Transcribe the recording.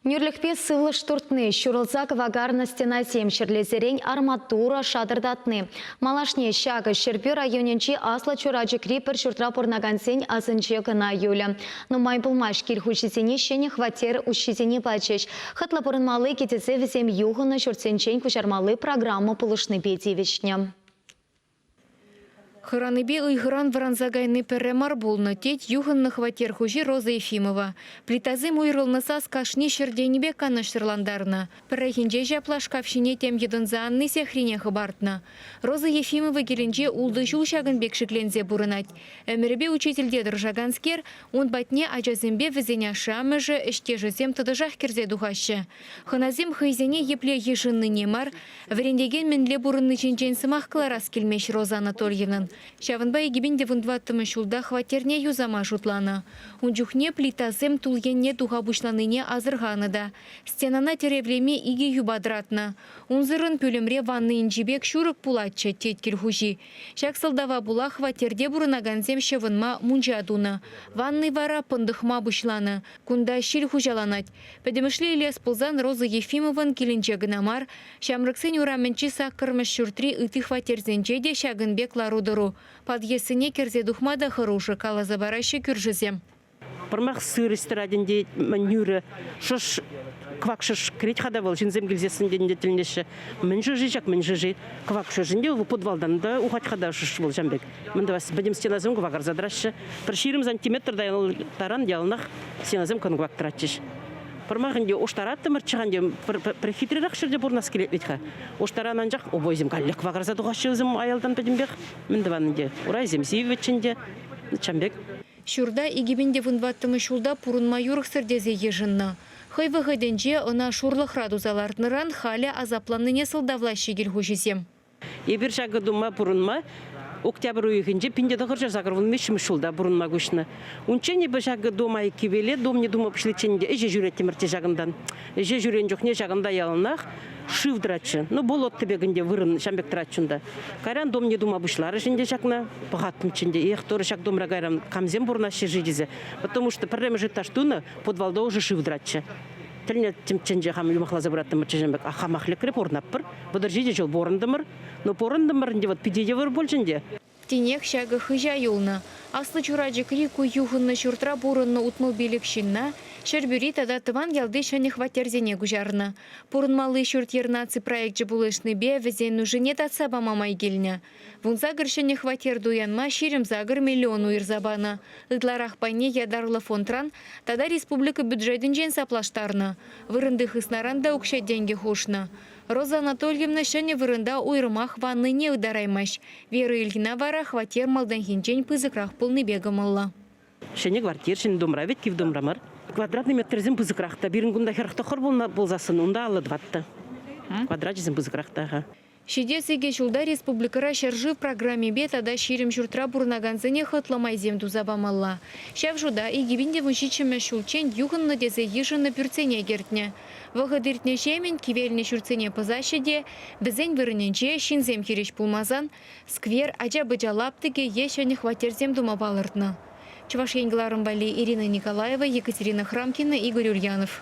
Нӳрлӗхпе сывлӑш туртни, ҫурӑлса кӑвакарнӑ стенасем ҫӗрлесерен арматура шатӑртатни. Малашне ҫакӑ Ҫӗрпӳ районӗнчи Аслӑ Чурачӑкри пӗр ҫуртра пурӑнакансен асӑнче кӑна юлӗ. Нумай пулмасть кил хуҫисене ҫӗнӗ хваттер уҫҫисене пачӗҫ. Хӑтлӑ пурӑнмалли кӗтесе вӗсем юхӑннӑ ҫуртсенчен куҫармалли программа пулӑшнипе тивӗҫнӗ. Хӑранипе ыйхӑран вӑранса кайни пӗрре мар пулнӑ, тет юхӑннӑ хваттер хуҫи Роза Ефимова. Плитасем уйрӑлнӑ сас кашни ҫӗр тенӗпе канӑҫсӑрлантарнӑ. Пӗррехинче ҫапла шкаф ҫине тем йӑтӑнса анни сехрине хӑпартнӑ. Роза Ефимова килӗнче ултӑ ҫул ҫакӑн пек шикленсе пурӑнать. Ӗмӗрӗпе учительте тӑрӑшаканскер, ун патне ачасемпе вӗсен ашшӗ-амӑшӗ, ӗҫтешӗсем тӑтӑшах кӗрсе тухаҫҫӗ. Хӑнасем хӑйсене епле йышӑннине мар, Вӗрентекен мӗнле пурӑнни ҫинчен сӑмах кӑларас килмест Роза Анатольевнӑн. Ҫавӑнпа икӗпин те вунтӑваттӑмӗш ҫулта хваттерне юсама шутланӑ. Ун чухне плитасем тул енне туха пуҫланине асӑрханӑ та. Стенана тӗревлеме икӗ юпа тӑратнӑ. Унсӑрӑн пӳлӗмре ванна инҫи пек ҫурӑк пулатчӗ, тет кил хуҫи. Ҫак сӑлтава пула хваттерте пурӑнакансем ҫӑвӑнма мунча тунӑ. Ванни вара пӑнтӑхма пуҫланӑ. Кунта ҫил хуҫаланать. Пӗтӗмӗшле илес пулсан Роза Ефимован килӗнче кӑна мар, Ҫамрӑксен урамӗнчи саккӑрмӗш ҫуртри ытти хваттерсенче те ҫакӑн пек лару-тӑру. Подъездсене кӗрсе тухма та хӑрушӑ, каласа параҫҫӗ кӳршӗсем. Пӑрмах сырӑҫ тӑрать ӗнтӗ, мӗн юрӗ, шӑш, кӑвак шӑш кӗрет-ха та вӑл, ҫынсем килсессӗн тенӗ те тӗлӗнеҫҫӗ. Мӗн шӑши ҫак, мӗн шӑши? Кӑвак шӑш ӗнтӗ, вӑл подвалтан та ухать-ха та шӑш вӑл ҫам пек. Мӗн тӑвас, пӗтӗм стенасем кӑвакарса тӑраҫҫӗ. Пӗр ҫирӗм сантиметр та таран яланах стенасем кӑнклаттаратчӗҫ. Пӑрмах ӗнтӗ уштараттӑмӑрччӗ-ха ӗнтӗ, пӗр, пӗр хитререх ҫӗрте пурӑнас килет вӗт-ха. Уштаран анчах обойсем каллех кӑвакарса тухаҫҫӗ вӗсем аялтан пӗтӗмпех. Мӗн тӑван ӗнтӗ, урайсем сивӗччӗ ӗнтӗ, чам пек. Ҫурта икӗ пин те вун ваттӑмӗш ҫулта пурӑнма юрӑхсӑр тесе йышӑннӑ. Хӑй вӑхӑтӗнче ӑна шурлӑхра туса лартнӑран халӗ асапланнине сӑлтавлаҫҫӗ кил хуҫисем. Эпир ҫакӑ тума пурӑнма октябрь уйӑхӗнче пин те тӑхӑрҫӗр сакӑр вун виҫҫӗмӗш ҫулта пурӑнма куҫнӑ. Унччен эпӗ ҫакӑ дом айккипеле дом не тума пуҫличчен те ӗҫе ҫӳреттӗмӗр те ҫакӑнтан. Ӗҫе ҫӳрен чухне ҫакӑнта яланах шыв тӑратчӗ. Ну, болот тӗпек ӗнтӗ вырӑн ҫам пек тӑратчӗ унта. Кайран дом не тума пуҫларӗҫ ӗнтӗ ҫакна. Пӑхаттӑмччӗ ӗнтӗ, эх, Тора ҫак домра кайран камсем пурӑнаҫҫӗ-ши тесе. Потому что пӗрремӗш этаж тунӑ подвалта ӑшӑ шыв тӑратчӗ. Тӗлне тӗнче хам юмахласа пыраттӑм мӑччӑсем пек. А хамах лекре пурӑнаппӑр. Вӑтӑр ҫичӗ ҫул пурӑнтӑмӑр. Ну, пурӑнтӑмӑр ӗнтӗ вӑт питӗ йывӑр пуль ӗнтӗ. Тинех ҫакӑ хыҫа юлнӑ. Аслӑ Чурачӑкри ку юхӑннӑ ҫуртра пурӑннӑ утмӑлпиллӗк ҫынна, Ҫӗрпӳри тата тӑван ялти ҫӗнӗ хваттерсене куҫарнӑ. Пурӑнмалли ҫурт-йӗр наци проекчӗ пулӑшнипе вӗсен нушине татса пама май килнӗ. Вунсакӑр ҫӗнӗ хваттер туянма ҫирӗм сакӑр миллион уйӑрса панӑ. Ытларах пайне ятарлӑ фондран тата республика бюджетӗнчен саплаштарнӑ. Вырӑнти хыснаран та укҫа-тенкӗ хушнӑ. Роза Анатольевна ҫӗнӗ вырӑнта уйрӑмах ваннине ытараймасть. Вера Ильина вара хваттер малтанхинчен пысӑкрах пулнипе кӑмӑллӑ. Ҫӗнӗ квартир ҫӗнӗ домра вӗт, кив домра мар. Квадратный метрсем пысӑкрах та. Пирӗн кунта хӗрӗх тӑххӑр пулнӑ пулсассӑн унта аллӑ тӑват та. Квадрачӗсем пысӑкрах та-ха. Ҫитес икӗ ҫулта республикӑра ҫӗршыв программипе тата ҫирӗм ҫуртра пурӑнакансене хӑтлӑ майсем туса памалла. Ҫав шута икӗ пин те вунҫиччӗмӗш ҫулччен юхӑннӑ тесе йышӑннӑ пӳртсене кӗртнӗ. Вӑхӑт иртнӗҫемӗн кивелнӗ ҫуртсене пӑсаҫҫӗ те, вӗсен вырӑнӗнче, ҫынсем хирӗҫ пулмасан, сквер, ача-пӑча лаптӑкӗ е ҫӗнӗ хваттерсем тума палӑртнӑ. Чӑваш Ен кӑларӑм валли Ирина Николаева, Екатерина Храмкина, Игорь Ульянов.